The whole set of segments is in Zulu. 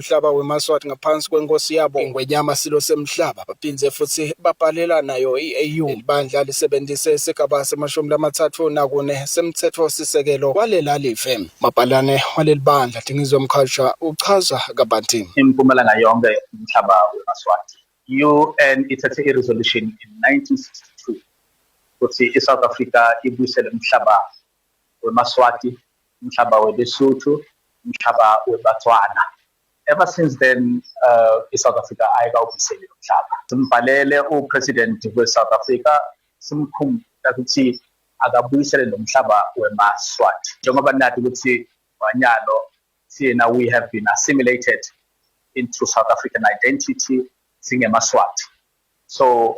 umhlaba weMaswati ngaphansi kwenkosi yabo iNgwenyama Silo Semhlaba. Baphinde futhi babhalela nayo i-AU. Leli bandla lisebenzise isigaba semashumi lamathathu nakune semthethosisekelo walela live. Umabhalane waleli bandla Dingizwe Mkhalsha uchaza kabanti. Impumalanga yonke umhlaba weMaswati. I-UN ithethe i-resolution in 1962 ukuthi iSouth Africa ibuyisele umhlaba weMaswati, umhlaba weBesuthu, umhlaba weBatswana. Ever since then uh, iSouth Africa ayikawubiseli lo mhlaba. Simbhalele uPresident weSouth Africa simkhumbula ukuthi akabuyisele lo mhlaba weMaswati njengoba nathi ukuthi wanyalo siyena we have been assimilated into South African identity singemaswati so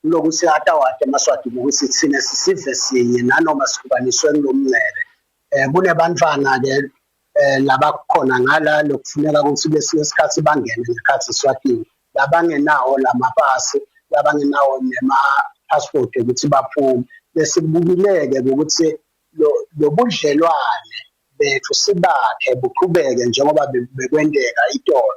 Kuloku sihatawate emaswati ukuthi thina sisive sinye nanoma sihlukaniswe kulo mncele. Um eh, kunebantfwana-ke um eh, labakhona ngala lokufuneka ukuthi kwesinye isikhathi bangene ngekhathi eswatini labangenawo la mapasi labangenawo nema-passport ukuthi baphume besikubukileke ukuthi lobudlelwane bethu sibakhe buqhubeke njengoba bekwenteka itolo